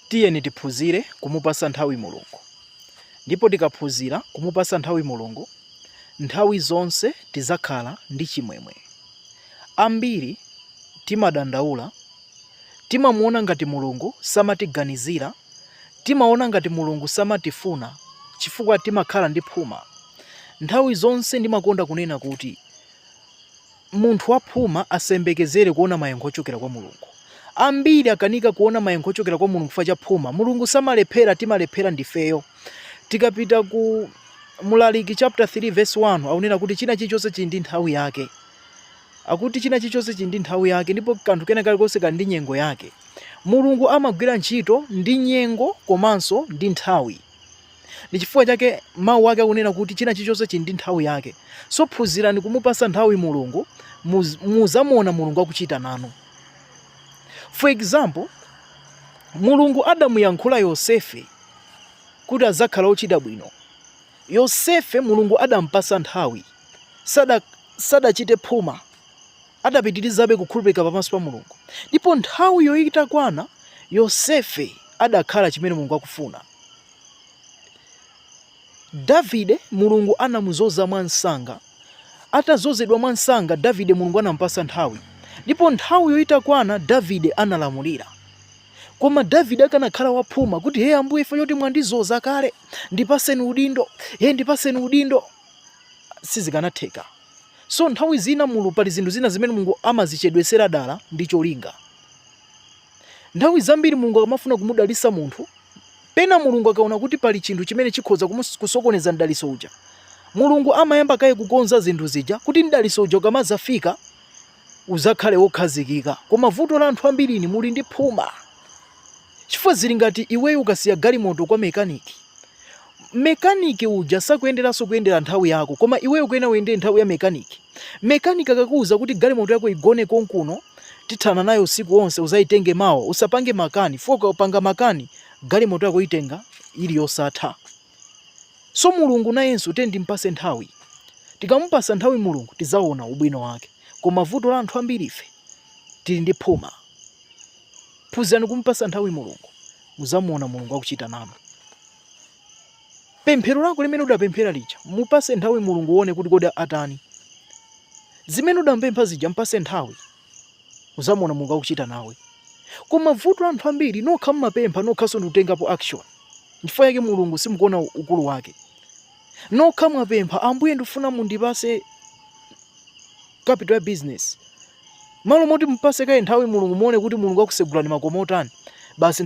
Tiyeni tiphunzire kumupasa nthawi mulungu ndipo tikaphunzira kumupasa nthawi mulungu nthawi zonse tizakhala ndi chimwemwe. Ambiri timadandaula timamuona ngati mulungu samatiganizira timaona ngati mulungu samatifuna chifukwa timakhala ndi phuma. Nthawi zonse ndimakonda kunena kuti. Munthu waphuma asayembekezere kuona mayankho ochokera kwa Mulungu. Ambiri akanika kuona mayankho ochokera kwa Mulungu chifukwa cha phuma. Mulungu samalephera, timalephera ndifeyo. Tikapita ku Mlaliki chapter 3 verse 1 akunena kuti china chilichonse chili ndi nthawi yake. Akuti china chilichonse chili ndi nthawi yake ndipo kanthu kena kalikonse kali ndi nyengo yake. Mulungu amagwira ntchito ndi nyengo komanso ndi nthawi. Ndi chifukwa chake mau ake akunena kuti china chilichonse chili ndi nthawi yake. So phunzirani kumupasa nthawi Mulungu, muzamuona Mulungu akuchita nanu. For example, Mulungu adamuyankhula Yosefe kuti azakhala ochita bwino. Yosefe Mulungu adampasa nthawi, sadachite phuma, adapitirizabe kukhulupirika pamaso pa Mulungu. Ndipo nthawi yo itakwana Yosefe adakhala chimene Mulungu akufuna. Davide Mulungu anamuzoza mwamsanga. Atazozedwa mwamsanga, Davide Mulungu anamupasa nthawi. Ndipo nthawi yo itakwana, Davide analamulira. Koma Davide akanakhala waphuma kuti, hey, ambuye ife poti mwandizoza kale, ndipaseni udindo, hey, ndipaseni udindo. Sizikanatheka. So nthawi zina mulu pali zinthu zina zimene Mulungu amazichedwesera dala ndi cholinga. Nthawi zambiri Mulungu akamafuna kumudalitsa munthu, pena Mulungu akaona kuti pali chinthu chimene chikhoza kusokoneza mdalitso uja, Mulungu amayamba kaye kukonza zinthu zija kuti mdalitso uja ukamazafika uzakhale wokhazikika. Koma vuto la anthu ambiri inu muli ndi phuma. Chifukwa zili ngati iweyo ukasiya galimoto kwa mekaniki, Mekaniki uja sakuyeneranso kuyendera nthawi yako koma iweyo ukuyenera uyendere nthawi ya mekaniki. Mekaniki akakuuza kuti galimoto yako igone konkuno tithana nayo usiku wonse uzayitenge mawa usapange makani chifukwa ukapanga makani galimoto yako uitenga ili yosatha. So Mulungu nayenso tiyeni timpase nthawi. Tikamupasa nthawi Mulungu tizaona ubwino wake. Koma vuto la anthu ambiri ife tili ndi phuma. Phunzirani kumupasa nthawi Mulungu muzamuona Mulungu akuchita nanu. Pemphero lako limene udapemphera lija, mupase nthawi Mulungu uone kuti kodi atani. Zimene udampempha zija mpase nthawi, uzamuona Mulungu akuchita nawe. Koma vuto la anthu ambiri, nokha mmapempha nokhanso ndikutengapo action. Nchifukwa yake Mulungu simukuona ukulu wake. Nokha mwapempha, Ambuye ndifuna mundipase capital ya business. Malo moti mupase kaye nthawi Mulungu muone kuti Mulungu akusegulani makomo otani. Basi